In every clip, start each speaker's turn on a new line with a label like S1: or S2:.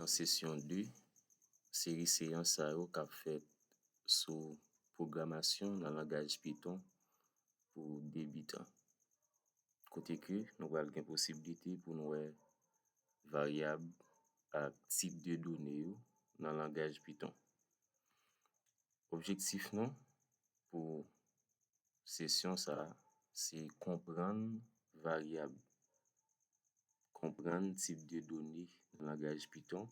S1: nan sesyon 2 seri seyans sa yo k ap fèt sou pwogramasyon nan langaj Python pou debitan kote ke nou pral gen posiblite pou nou wè varyab ak tip de done yo nan langaj Python. Objektif nou pou sesyon sa a se konprann varyab, konprann tip de done nan langaj Python,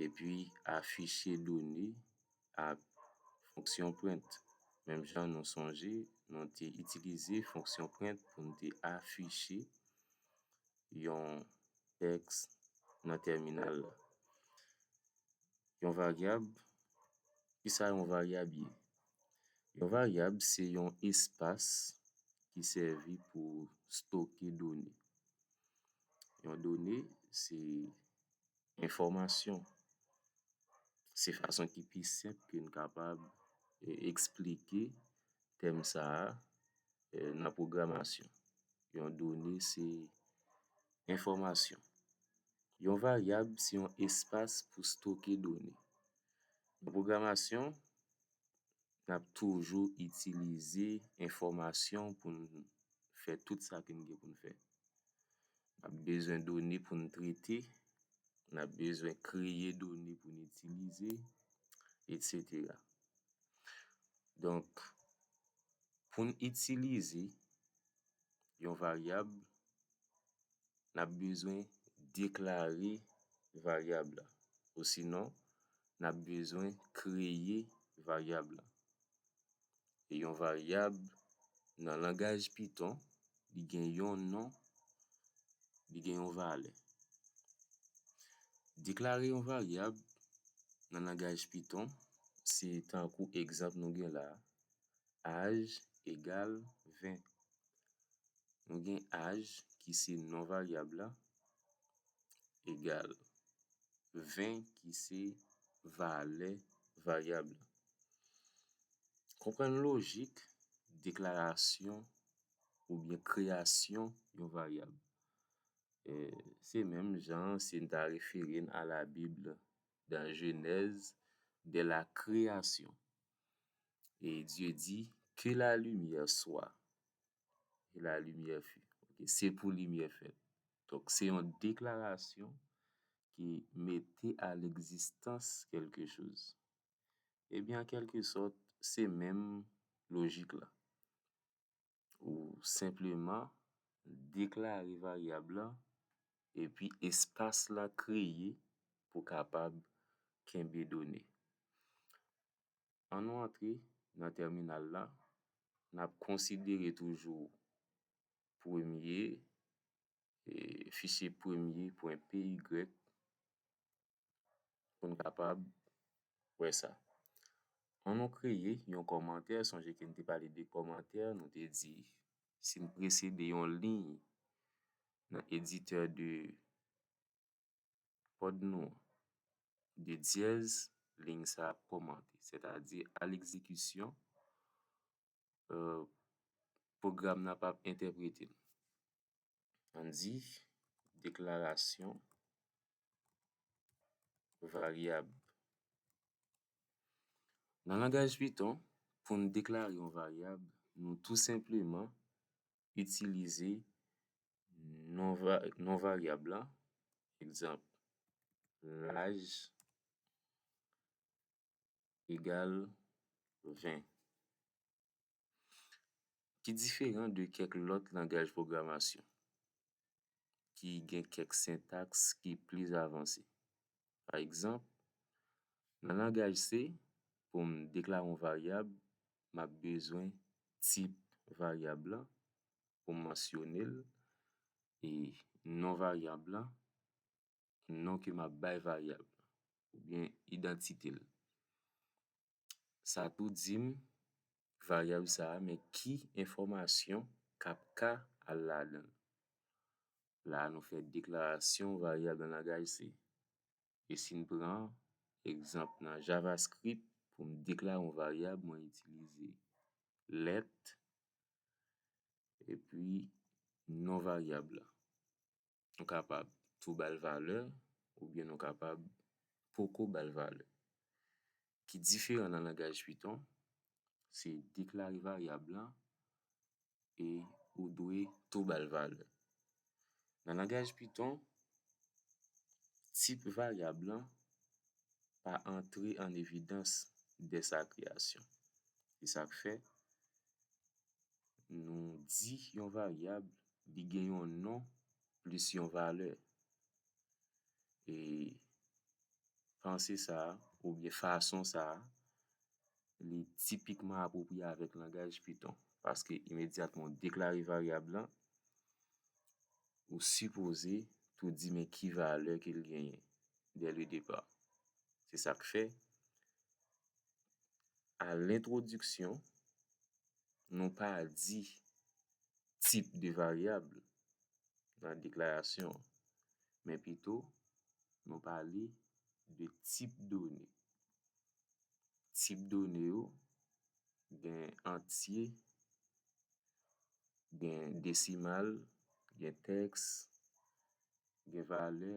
S1: epi afiche done ak fonksyon print. Menm jan nou sonje nou te itilize fonksyon print pou nou te afiche yon tèks nan tèminal la. Yon varyab, kisa yon varyab ye? Yon varyab se yon espas ki sèvi pou stoke done. Yon done se enfòmasyon. Se fason ki pi senp ke n kapab esplike tèm sa a nan pwogramasyon. Yon done se enfòmasyon. Yon varyab se yon espas pou stoke done. Nan pwogramasyon, Nap toujou itilize enfòmasyon pou n fè tout sa ke n gen pou n fè. Nap bezwen done pou n trete, nap bezwen kreye done pou n itilize, etsetera. Donk, pou n itilize yon varyab, nap bezwen deklare varyab la. Osinon, n ap bezwen kreye varyab la. E yon varyab nan langaj Python, li gen yon non, li gen yon valè. Deklare yon varyab nan langaj Python se tankou egzanp nou gen la a, Aj egal 20. Nou gen aj ki se non varyab la, egal 20 ki se valè varyab la. Konprann lojik deklarasyon oubyen kreyasyon yon varyab. Se menm jan si n ta refere n a la bib nan jenèz de la kreyasyon e Dye di ke la limyè swa e la limyè fut. Se pou limyè fèt. Donk se yon deklarasyon ki mete a legzistans kèlke choz. Ebyen an kèlke sòt se menm lojik la. Ou senpleman deklare varyab la epi espas la kreye pou kapab kenbe done. An nou antre nan tèminal la, n ap konsidere toujou premye fisye premye pwen p y pou n kapab wè sa an nou kreye yon kòmantè sonje ke n te pale de kòmantè nou te di si n presede yon liy nan editè de kòd nou an de dyèz liy sa ap kòmante sètadi a lekzekisyon pwogram nan pa p entèprete l. An di deklarasyon varyab. Nan langaj python, pou n deklare yon varyab, nou tou senpleman itilize non varyab la, egzanp, laj. egal 20. Ki diferan de kèk lòt langaj pwogramasyon ki gen kèk sentaks ki plis avanse. Pa egzanp, nan langaj C, pou m deklare yon varyab, m ap bezwen tip varyab la pou m mansyone l e non varyab la non ke m ap bay varyab la, oubyen idantite l. Sa tou di m varyab sa a men ki enfòmasyon k ap ka al ladan l. La a nou fè deklarasyon varyab nan langaj C. E si n pran egzanp nan javascript pou m deklare yon varyab mwen itilize let epi non varyab la. Nou kapab tou ba l valè oubyen nou kapab poko ba l valè. Ki diferan nan langaj python, se deklare varyab la e ou dwe tou ba l valè. Nan langaj python, tip varyab lan pa antre an evidans dè sa kreyasyon. Se sa k fè nou di yon varyab li gen yon non plis yon valè. E panse sa a oubyen fason sa a li tipikman apwopriye avèk langaj Python paske imedyatman w deklare varyab lan, ou sipoze pou w di men ki valè ke l genyen dèledepar. Se sa k fè a lentwodiksyon, nou pa di tip de varyab nan deklarasyon an, men pito nou pale de tip done. Tip done yo gen antye, gen desimal, gen tèks, gen valè,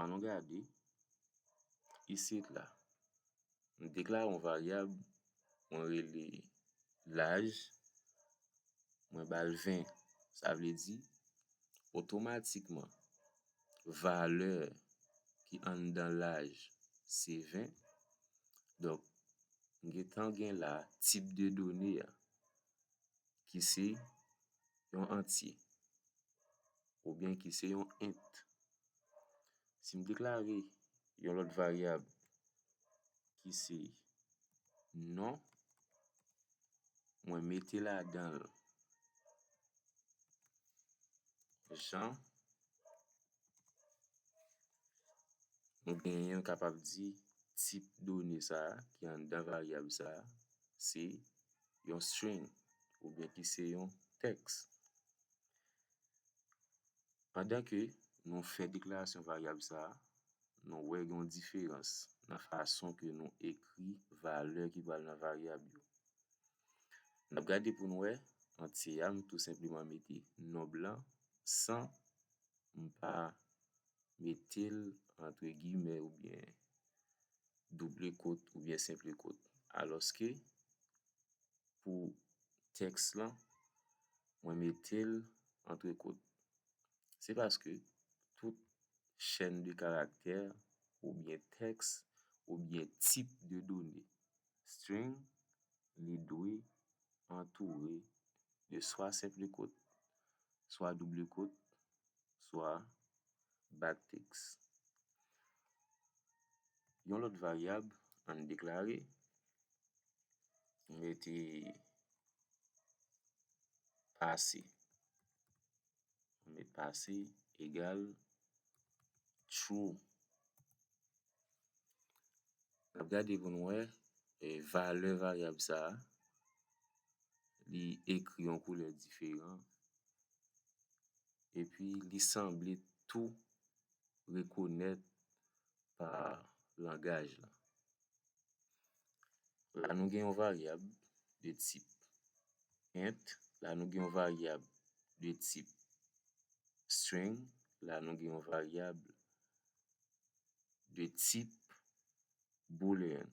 S1: An nou gade, isit la, m deklare yon varyab, mwen rele laj, mwen ba l 20. Sa vle di, otomatikman, valè ki anndan laj se 20. Donk, m gen tan gen la tip de done a ki se yon antye. oubyen ki se yon int. Si m deklare yon lòt varyab ki se non, mwen mete ladan l jan nou genyen m kapab di tip done sa a ki anndan varyab sa a se yon string oubyen ki se yon tèks. Pandan ke nou fè deklarasyon varyab sa a, nou wè gen yon diferans nan fason ke nou ekri valè ki pral nan varyab yo. N ap gade pou n wè, antye a m tou senpleman mete nonb lan san m pa mete l antre gimè oubyen double kot oubyen senple kot. Alòske pou tèks lan, mwen mete l antre kot. Se paske tout chèn de karaktè oubyen tèks oubyen tip de done, string, li dwe antoure de swa senpli kot, swa double kot, swa baktiks. Yon lòt varyab, ann deklare, m mete pase, m met pase egal true, n ap gade pou n wè valè varyab sa a li ekri yon koulè diferan epi li sanble tou rekonèt pa langaj la. La nou gen yon varyab de tip int, la nou gen yon varyab de tip string, la nou gen yon varyab de tip boolean.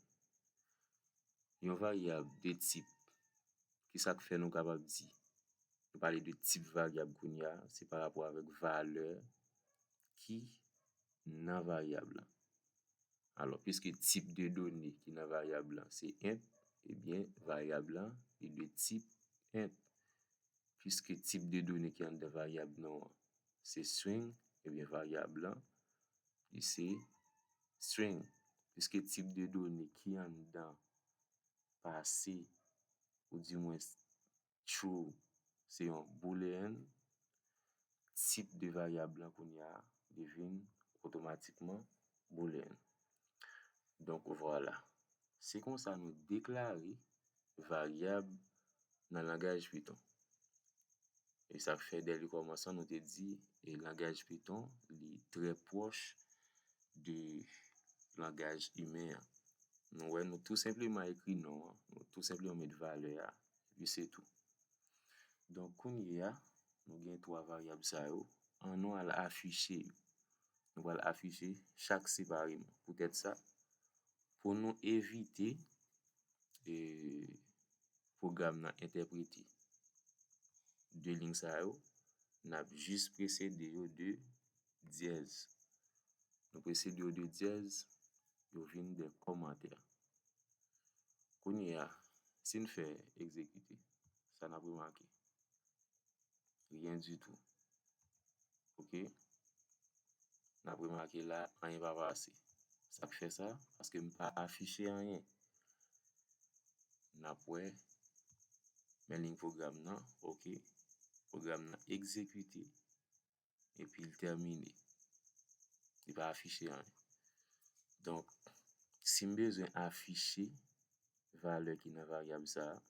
S1: Yon varyab de tip, ki sa k fè nou kapab di, nou pale de tip varyab kounye a, se pa rapò avèk valè ki nan varyab la. Alò, piske tip de done ki nan varyab lan se int, ebyen varyab lan li dwe tip int. Piske tip de done ki anndan varyab non an se string, ebyen varyab lan li se string. Piske tip de done ki anndan pase, oudimwens true se yon boolean, tip de varyab lan kounye a devin otomatikman boolean. Donk vwala. Se konsa nou deklare varyab nan langaj python. E sa k fè dè le kòmansman nou te di langaj python li trè pwòch de langaj imen an. Nou wè nou tou senpleman ekri non an, nou tou senpleman met valè a epi se tou. Donk kounye a, nou gen 3 varyab sa yo, an nou al afiche yo. Nou pral afiche chak separeman. Poutèt sa, pou nou evite pwogram nan entèprete 2 lign sa yo, n ap jis presede yo de dyèz. Nou prese di yo de dyèz, yo vin de kòmantè. Kounyeya, si n fè egzekite, sa n ap remake? Ryen ditou. Ok? N ap remake la, anyen pa pase. Sa k fè sa? Paske m pa afiche anyen. N ap wè, men liy pwogram nan, ok, pwogram nan egzekite. epi l tèmine. Li pa afiche anyen. Donk, si m bezwen afiche valè ki nan varyab sa a,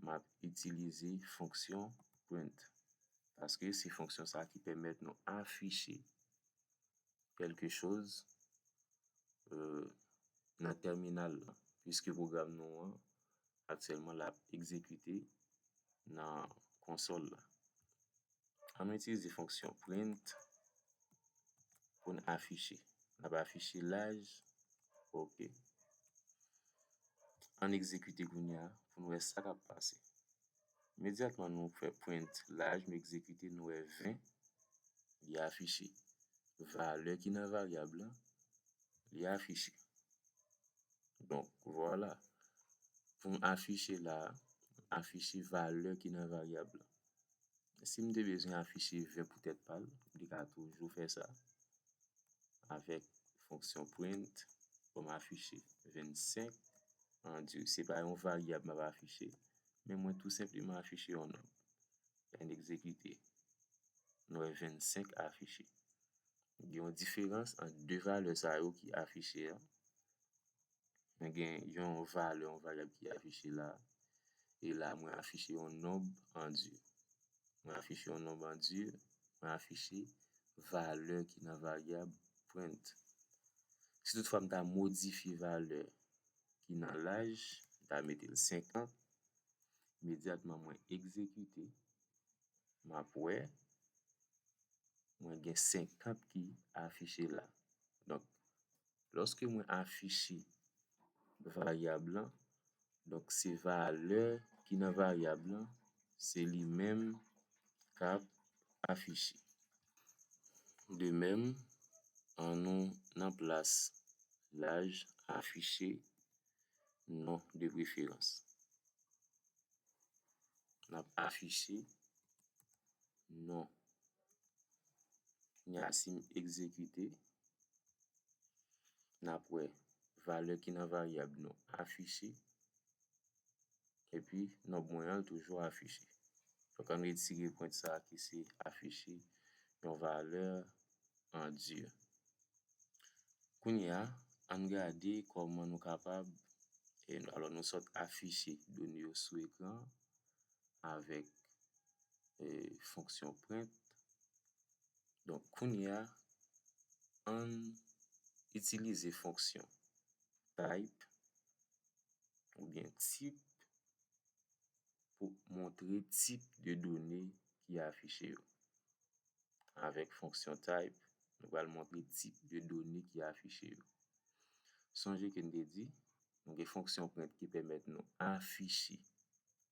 S1: m ap itilize fonksyon print. Paske se fonksyon sa a ki pèmèt nou afiche kèlke choz nan tèminal la. Piske pwogram nou an aktyèlman l ap egzekite nan konsòl la. An nou itilize fonksyon print pou n afiche. N ap afiche laj ok. An n egzekite kounye a pou n wè sa k ap pase. Imedyatman nou fè print laj nou egzekite nou wè 20 li afiche. Valè ki nan varyab lan li afiche. Donk vwala pou m afiche la a, afiche valè ki nan varyab lan. Si m te bezwen afiche 20 pou tèt pa l, li ka toujou fè sa avèk fonksyon print pou m afiche 25 an di se pa yon varyab m ap afiche. men mwen tou senpleman afiche yon nòt, pèn egzekite, nou wè 25 afiche. Gen yon diferans ant 2 valè sa yo ki afiche a, mwen gen yon valè, yon varyab ki afiche la, e la mwen afiche yon nonb andir. Mwen afiche yon nonb andir, mwen afiche valè ki nan varyab print. Si tout fwa m ta modifye valè ki nan laj, m ta mete l 5 an, imedyatman mwen egzekite, m ap wè mwen gen 50 ki afiche la. Donk, lòske mwen afiche varyab lan, donk se valè ki nan varyab lan, se li menm k ap afiche. De mèm, an nou nan plas laj afiche non de preferans. N ap afiche non ni asim egzekite. N ap wè valè ki nan varyab nou afiche. epi nòb mwen an l toujou afiche. Donk ann retire pwent sa ki se afiche yon valè an dur. Kounye a, ann gade kòman nou kapab, alò nou sot afiche done yo sou ekran an avèk fonksyon print. Donk kounye a, ann itilize fonksyon type ou byen tip pou montre tip de done ki afiche yo. Avèk fonksyon type, nou pral montre tip de done ki afiche yo. Sonje ke n te di, nou gen fonksyon print ki pèmèt nou afiche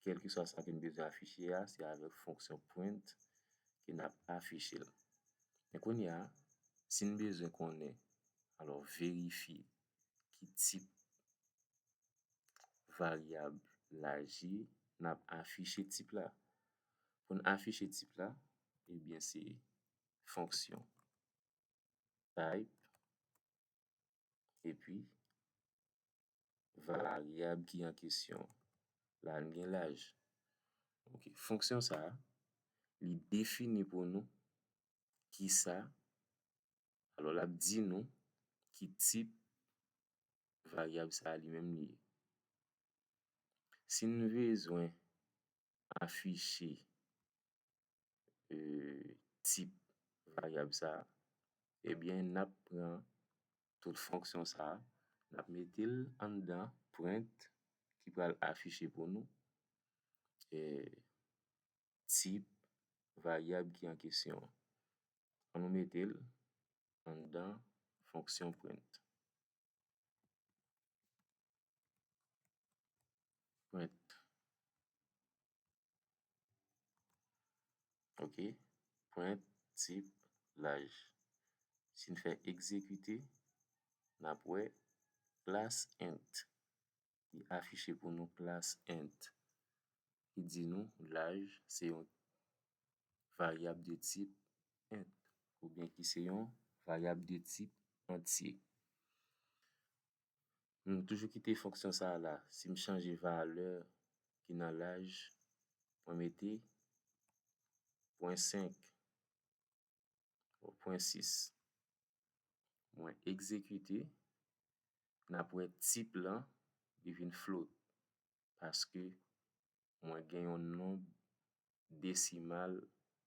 S1: kèlkeswa sa ke n bezwen afiche a, se avèk fonksyon print ke n ap afiche l. Men kounye a, si n bezwen konnen, alò verifye ki tip varyab la je, n ap afiche tip la. Pou n afiche tip la, ebyen se fonksyon type epi varyab ki an kesyon la li gen laj. Ok, fonksyon sa a li defini pou nou kisa Alò l ap di nou ki tip varyab sa a li menm li ye. Si n bezwen afiche tip varyab sa a, ebyen n ap pran tout fonksyon sa a, n ap mete l anndan print ki pral afiche pou nou. tip varyab ki an kesyon an. An nou mete l anndan fonksyon print. Ok, print tip laj. Si n fè egzekite, n ap wè plas int. ki afiche pou nou klas int, ki di nou laj se yon varyab de tip int oubyen ki se yon varyab de tip antye. M toujou kite fonksyon sa a la. Si m chanje valè ki nan laj, mwen mete pwen 5 ou pwen 6. mwen egzekite nap wè tip lan li vin float paske mwen gen yon nonb desimal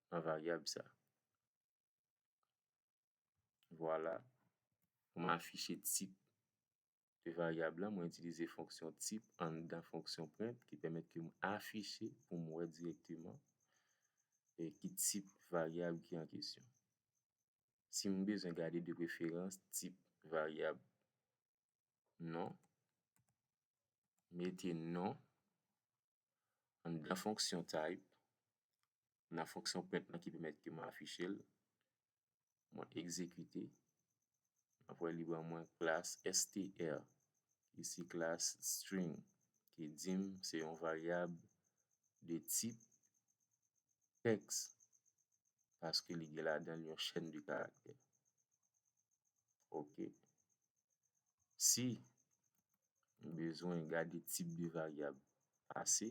S1: nan varyab sa vwala pou m afiche tip de varyab la mwen itilize fonksyon tip anndan fonksyon print ki pèmèt ke m afiche pou m wè dirèkteman ki tip varyab ki an kesyon si m bezwen gade de preferans tip varyab non, mete non anndan fonksyon type nan fonksyon print lan ki pèmèt ke m afiche l, mwen egzekite, m ap wè li ban mwen klas str. Isi klas string ki di m se yon varyab de tip tèks paske li gen ladan l yon chèn de karaktè. Ok. Si m bezwen gade tip de varyab pase,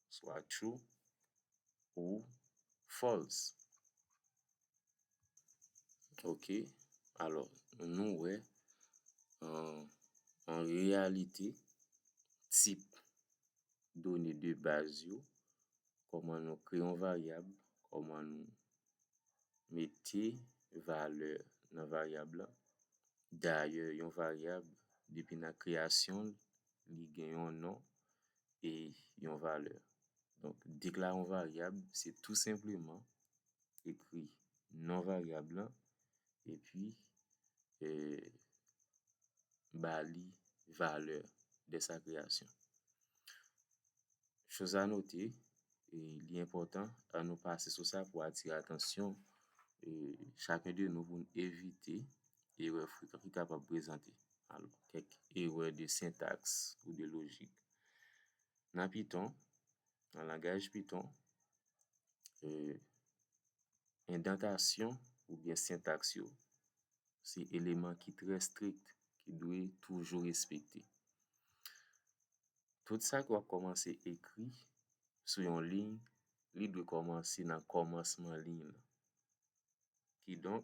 S1: swa true ou false. Ok, alò nou wè an reyalite tip done de baz yo, kòman nou kreye yon varyab, kòman nou mete valè nan varyab la. Dayè yon varyab depi nan kreyasyon l, li gen yon non, e yon valè. Donk, deklare yon varyab, se tou senpleman ekri non varyab lan epi ba li valè de sa kreyasyon. Choz a note, li enpòtan, an nou pase sou sa pou atire atansyon chaken de nou pou n evite erè frekant ki kapab prezante. alò kèk erè de sentaks ou de lojik. Nan Python, nan langaj Python, endantasyon oubyen sentaks yo se eleman ki trè strik ki dwe toujou respekte. Tout sa ke w ap kòmanse ekri sou yon liy, li dwe kòmanse nan kòmansman liy lan. Kidonk,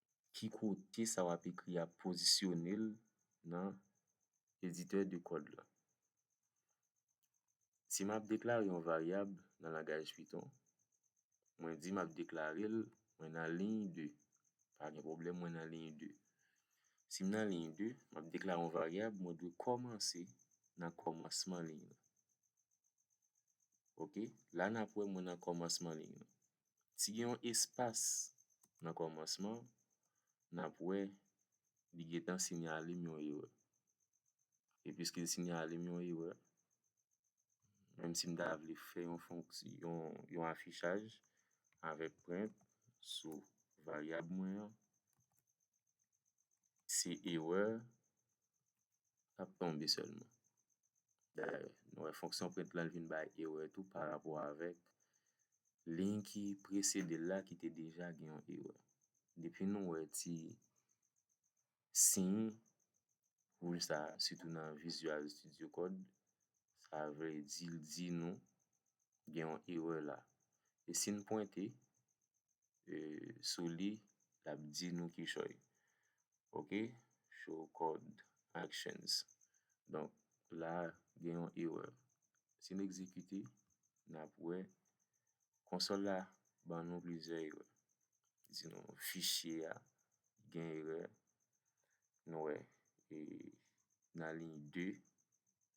S1: ki kote sa w ap ekri a pozisyone l nan editè de kòd lan. Si m ap deklare yon varyab nan langaj Python, mwen di m ap deklare l, mwen nan liy 2, pa gen pwoblèm mwen nan liy 2. Si m nan liy 2, m ap deklare yon varyab, mwen dwe kòmanse nan kòmansman liy lan. Ok, la n ap wè mwen nan kòmansman liy lan. Si gen yon espas nan kòmansman, n ap wè li gen tan sinyale m yon erè. E piske l sinyale m yon erè, menm si m ta vle fè yon fonksyon, yon afichaj avèk prent sou varyab mwen an, se erè l ap tonbe sèlman. Dayè, nou wè fonksyon print lan vin bay erè tou parapò avèk liy ki presede l la ki te deja gen yon erè. Depi nou wè ti siy wouj sa a, sitou nan Visual Studio Code, sa vle di l di nou gen yon erè la. E si n pwente sou li, l ap di nou kichòy. Ok show code actions donk la gen yon error si n egzekite n ap wè konsòl la ban nou plizyè erè li di nou fichye a gen erè nou wè nan liy 2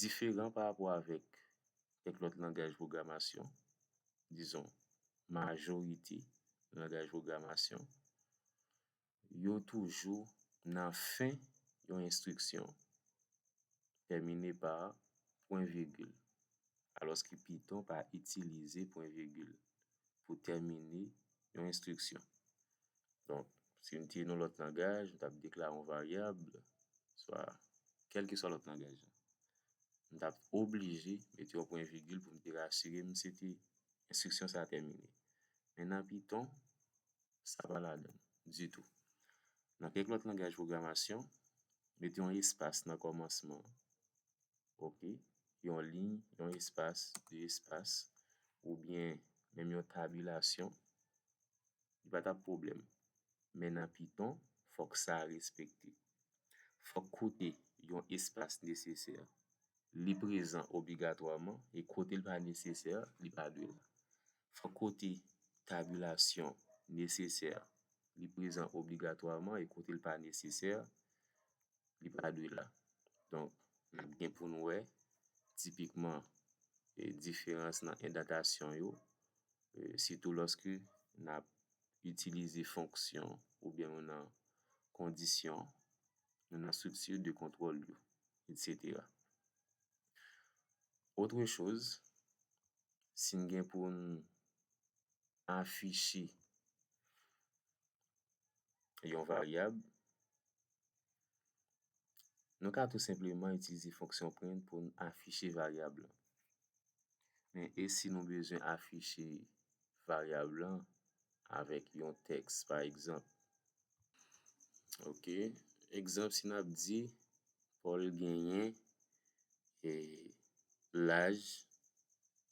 S1: diferan pa rapò avèk kèk lòt langaj pwogramasyon, dizon majorite langaj pwogramasyon, yo toujou nan fen yon enstriksyon tèmine pa pwen vigil, alòske Python pa itilize pwen vigil. pou tèmine yon enstriksyon. Donk, si m te yon lòt langaj, m t ap deklare yon varyab, swa kèlkeswa lòt langaj la, m t ap oblije mete yon pwen vigil pou m te rasire m se te enstriksyon sa a tèmine. Men nan Python, sa pa ladan l ditou. Nan kèk lòt langaj pwogramasyon, mete yon espas nan kòmansman ok, yon liy, yon espas, de espas, oubyen menm yon tabilasyon, li pa t ap pwoblèm. Men nan Python, fòk sa respekte. Fòk kote yon espas nesesè, li prezan obligatwaman, e kote l pa nesesè, li pa dwe la. Fòk kote tabilasyon nesesè, li prezan obligatwaman, e kote l pa nesesè, li pa dwe la. Donk, n ap gen pou n wè tipikman diferans nan endantasyon yo, sitou lòske n ap itilize fonksyon oubyen nou nan kondisyon, nou nan estrikti de kontwòl yo, etsetera. Otre choz, si n gen pou n afiche yon varyab, Nou ka tou senpleman itilize fonksyon print pou n afiche varyab lan. Men e si nou bezwen afiche varyab lan avèk yon tèks pa egzanp. Ok, egzanp si n ap di Paul genyen e laj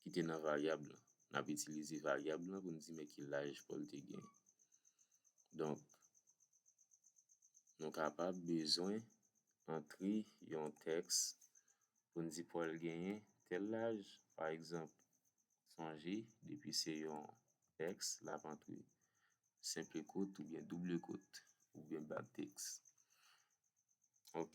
S1: ki te nan varyab lan. N ap itilize varyab lan pou n di men ki laj Pòl te genyen. Donk, nou kapab bezwen antre yon tèks pou n di Pòl genyen tèl laj. Pa egzanp, sonje, depi se yon tèks, l ap antre senpl kot oubyen doubl kot oubyen bak tèks. Ok?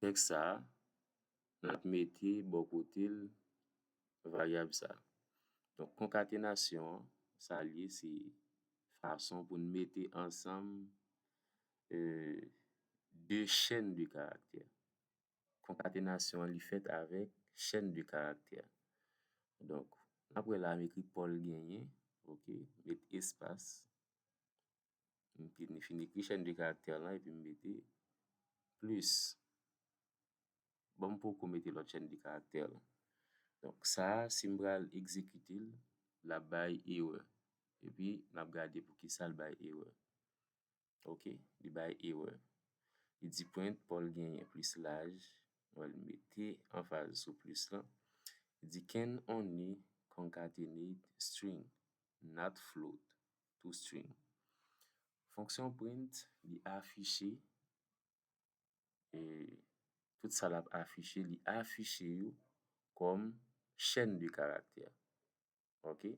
S1: tèks sa a, n ap mete bò kote l varyab sa a. Donk, konkatenasyon an, sa l ye se fason pou n mete ansanm de chenn de karaktè. Konkatenasyon an li fèt avèk chenn de karaktè. Donk, n ap wè la m ekri Pòl genyen, oke, m met espas. m fin ekri chèn de karaktè lan epi m mete plis bon m poko mete lòt chèn de karaktè lan donk sa a si m pral egzekite l l ap bay erè epi n ap gade poukisa l bay erè ok li bay erè li di prent Paul genyen plis laj m al mete anfaz sou plis lan li di can only concatenate string not float toString. Fonksyon print li afiche tout sa l ap afiche, li afiche yo kòm chèn de karaktè. Ok,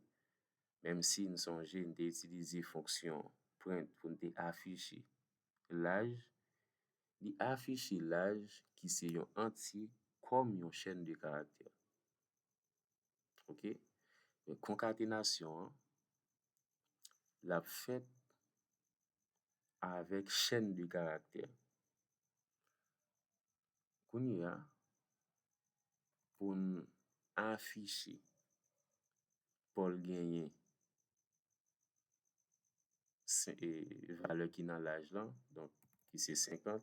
S1: menm si n sonje n te itilize fonksyon print pou n te afiche laj, li afiche laj ki se yon antye kòm yon chèn de karaktè. Ok, donk konkatenasyon an l ap fèt avèk chèn de karaktè. Kounye a, pou n afiche Pòl genyen valè ki nan laj lan, donk ki se 50,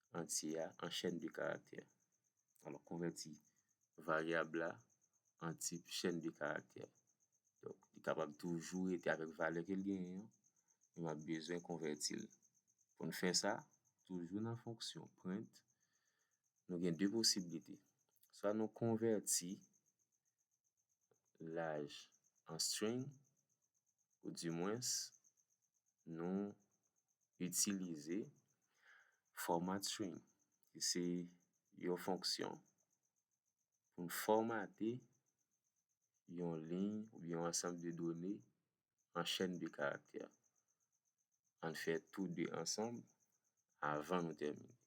S1: antye a an chèn de karaktè. Alò, konvèti varyab la an tip chèn de karaktè. Donk, li kapab toujou rete avèk valè ke l genyen an, men m ap bezwen konvèti l. Pou n fè sa, toujou nan fonksyon print, nou gen de posiblite. Swa nou konvèti laj an string, oudimwens nou itilize Format string, ki se yon fonksyon pou n fòmate yon liy oubyen yon ansanm de done an chèn de karaktè. An n fè tou de ansanm avan nou tèmine.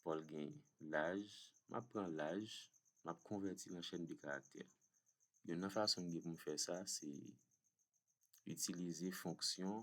S1: Pòl gen laj, m ap pran laj, m ap konvèti l an chèn de karaktè. Youn nan fason m gen pou m fè sa se itilize fonksyon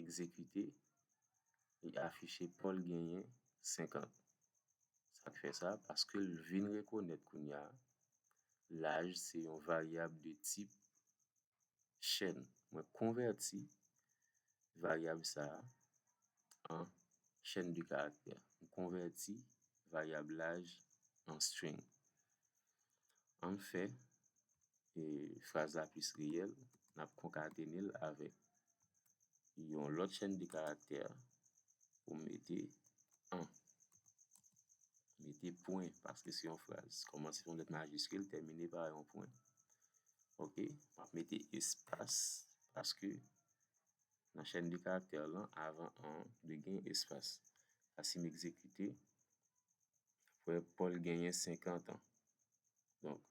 S1: egzekite li afiche Pòl genyen 50. Sa k fè sa? Paske l vin rekonèt kounye a laj se yon varyab de tip chèn. Mwen konvèti varyab sa a an chèn de karaktè. M konvèti varyab laj an string. An n fè fraz la plis reyèl, n ap konkatene l avèk yon lòt chenn de karaktè pou m mete an. Mete pwen paske se yon fraz. Kòmanse pa yon lèt majiskil, tèmine pa yon pwen. Ok, m ap mete espas paske nan chenn de karaktè lan, avan an an dwe gen espas. Asimekzekite Frè Paul genyen 50 an. Donk,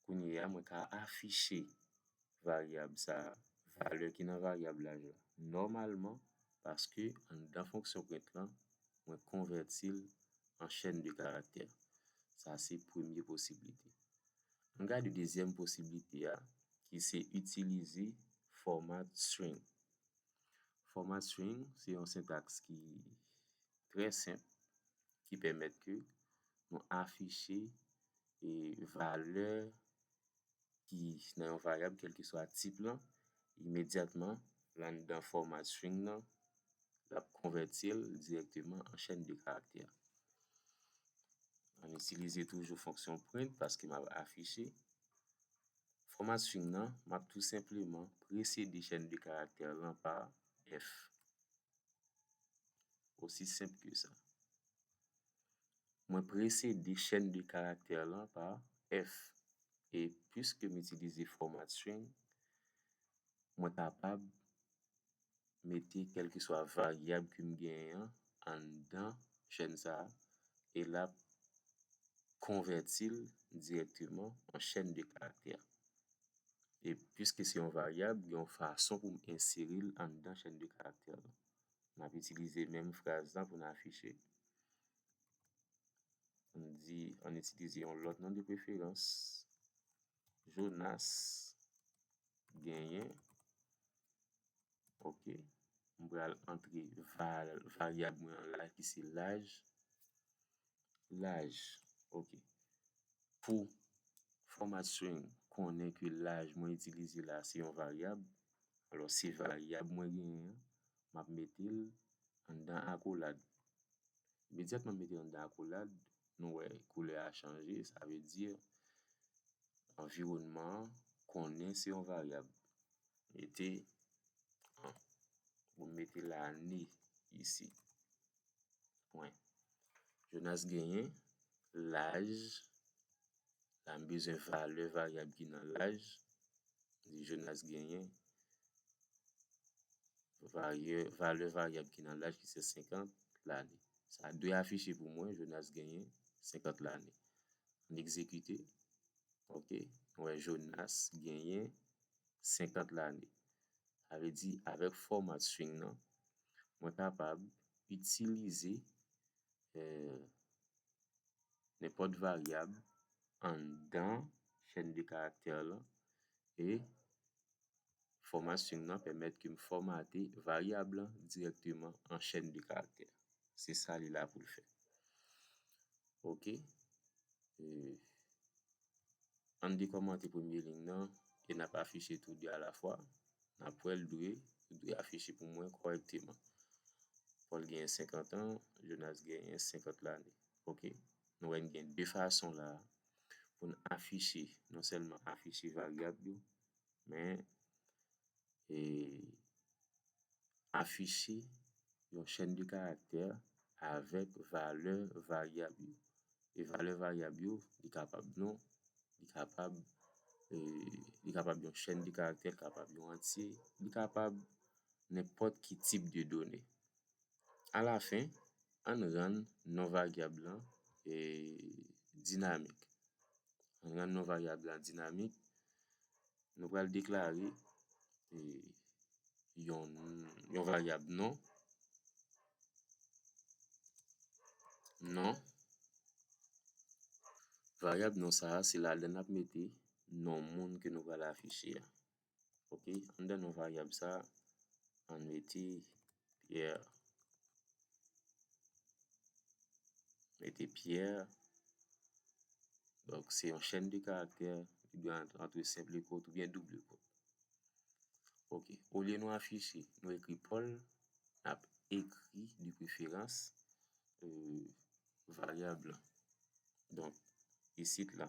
S1: kounye a, mwen ka afiche varyab sa a, valè ki nan varyab laj la, nòmalman, paske anndan fonksyon print lan, mwen konvèti l an chèn de karaktè. Sa se premye posiblite. Ann gade dezyèm posiblite a, ki se itilize fòmat string. Fòma string se yon sentaks ki trè senp ki pèmèt ke nou afiche valè ki nan yon varyab kèlkeswa tip lan imedyatman anndan fòma string lan l ap konvèti l dirèkteman an chèn de karaktè. Mwen itilize toujou fonksyon print paske m ap afiche Fòmasyn nan, m ap tou senpleman presede chèn de karaktè lan pa F. Osi senp ke sa. Mwen presede chèn de karaktè lan pa F. E piske m itilize fòmasyn, mwen kapab mete kèlkeswa varyab ke m genyen an anndan chèn sa a e l ap konvèti l dirèkteman an chèn de karaktè. E piske se yon varyab, gen yon fason pou m ensere l anndan chèn de karaktè lan. M ap itilize menm fraz la pou n afiche. An n di, an n itilize yon lòt non de preferans. Jonas genyen ok m pral antre varyab mwen an la ki se laj laj ok pou fòmat string konnen ke laj mwen itilize la se yon varyab alò se varyab mwen genyen an m ap mete l anndan akolad imedyatman m mete l anndan akolad nou wè koulè a chanje, sa vle di anviwònman an konnen se yon varyab. Mete an, oubyen mete lane isi. Pwen. Jonas genyen laj la m bezwen valè varyab ki nan laj ni Jonas genyen varyè valè varyab ki nan laj ki se 50 lane sa dwe afiche pou mwen Jonas genyen 50 lane m egzekite ok nou wè Jonas genyen 50 lane sa vle di avèk fòmat string nan mwen kapab itilize nenpòt varyab anndan chèn de karaktè lan e fòma string lan pèmèt ke m fòmate varyab lan dirèkteman an chèn de karaktè. Se sa li la pou l fè. Ok. Ann dekòmante premye lign nan e n ap afiche tou de alafwa. N ap wè l dwe ou dwe afiche pou mwen kòrèkteman. Pòl genyen senkantan, Jonas genyen senkant lane. Ok. Nou wè n gen de fason la a pou n afiche, nonsèlman afiche varyab yo, men e afiche yon chèn de karaktè avèk valè varyab yo. E valè varyab yo, li kapab non, li kapab e li kapab yon chèn de karaktè, li kapab yon antye, li kapab nenpòt ki tip de done. Alafen, ann rann non varyab lan dinamik. Ann rann non varyab lan dinamik, nou pral deklare yon varyab non, non, varyab non sa a se ladan l n ap mete non moun ke nou pral afiche a. ok anndan nou varyab sa ann mete Pierre mete Pierre donk se yon chèn de karaktè ki gen antre senp lekòt oubyen doub lekòt ok olye nou afiche nou ekri Paul n ap ekri de preferans varyab la donk isit la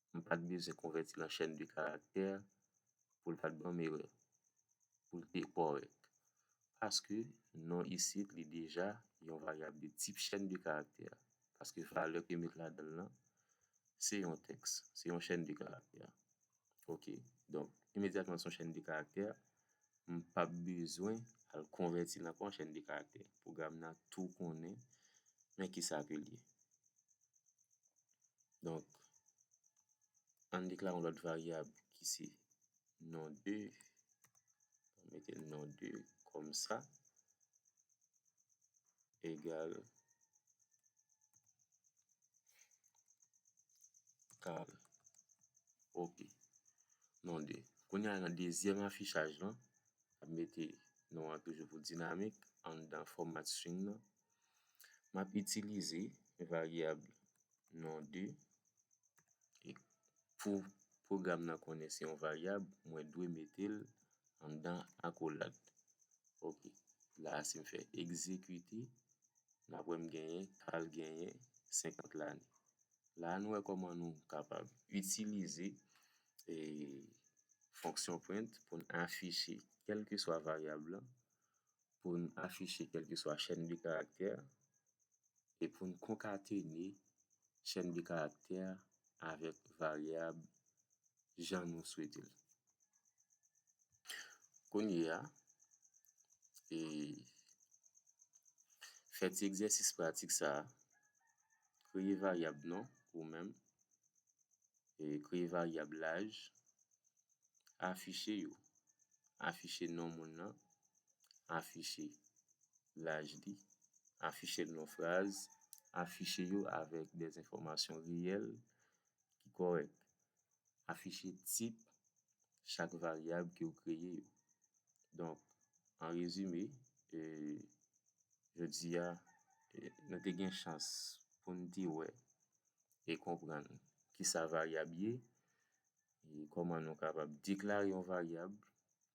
S1: m pat bezwen konvèti lan chèn de karaktè pou l pat ban m erè, pou l te kòrèk. Paske non isit li deja yon varyab de tip chèn de karaktè, paske valè ke met ladan l lan se yon tèks, se yon chèn de karaktè. Ok, donk, imedyatman se yon chèn de karaktè, M pap bezwen al konvèti nan pon chèn de karaktè. Pwogram nan tou konnen men kisa ke l ye. Donk, an n deklare yon lòt varyab ki se non2. Mete non2 kòmsa. egal kal ok non 2 kounya nan dezyèm afichaj lan map mete non an toujou pou dinamik anndan fòmat string nan map itilize varyab non 2 e pou pwogram nan konnen se yon varyab mwen dwe mete l anndan akolad ok la a si m fè egzekite n ap wè m genyen Carl genyen 50 lane la a nou wè kòman nou kapab itilize fonksyon print pou n afiche kèlkeswa varyab la pou n afiche kèlkeswa chèn de karaktè e pou n konkatene chèn de karaktè avèk varyab jan nou swete l. Kounye a, fè ti egzèsis pratik sa a, Kreye varyab non ou menm, kreye varyab laj, Afiche yo. Afiche non moun nan. Afiche laj li. Afiche l nan fraz. Afiche yo avèk dè enfòmasyon reyèl ki kòrèk. Afiche tip chak varyab ke ou kreye yo. Donk, an rezime, jodi a, nou te gen chans pou n te wè e konprann kisa varyab ye, E kòman nou kapab deklare yon varyab,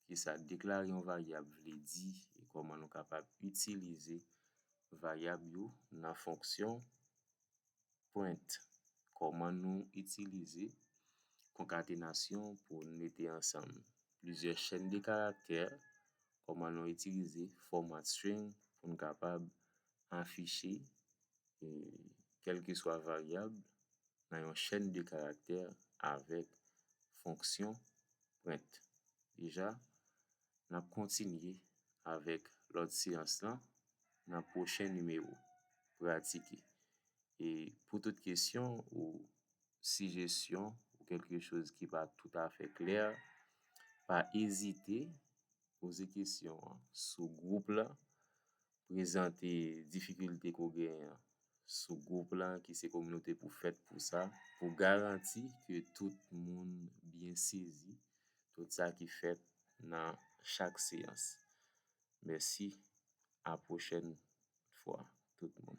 S1: kisa deklare yon varyab vle di e kòman nou kapab itilize varyab yo nan fonksyon print. Kòman nou itilize konkatenasyon pou n mete ansanm plizyè chèn de karaktè, kòman nou itilize fòmat string pou n kapab afiche kèlkeswa varyab nan yon chèn de karaktè avèk fonksyon print. Deja, n ap kontinye avèk lòt seyans lan nan pwochen nimewo. Pratike. E pou tout kesyon ou sijesyon ou kèlke choz ki pa toutafè klè, pa ezite poze kesyon an sou gwoup la prezante difikilte ke w genyen an sou gwoup la ki se kominote pou fèt pou sa, pou garanti ke tout moun byen sezi tout sa ki fèt nan chak seyans. Mèsi, a pwochèn fwa tout moun.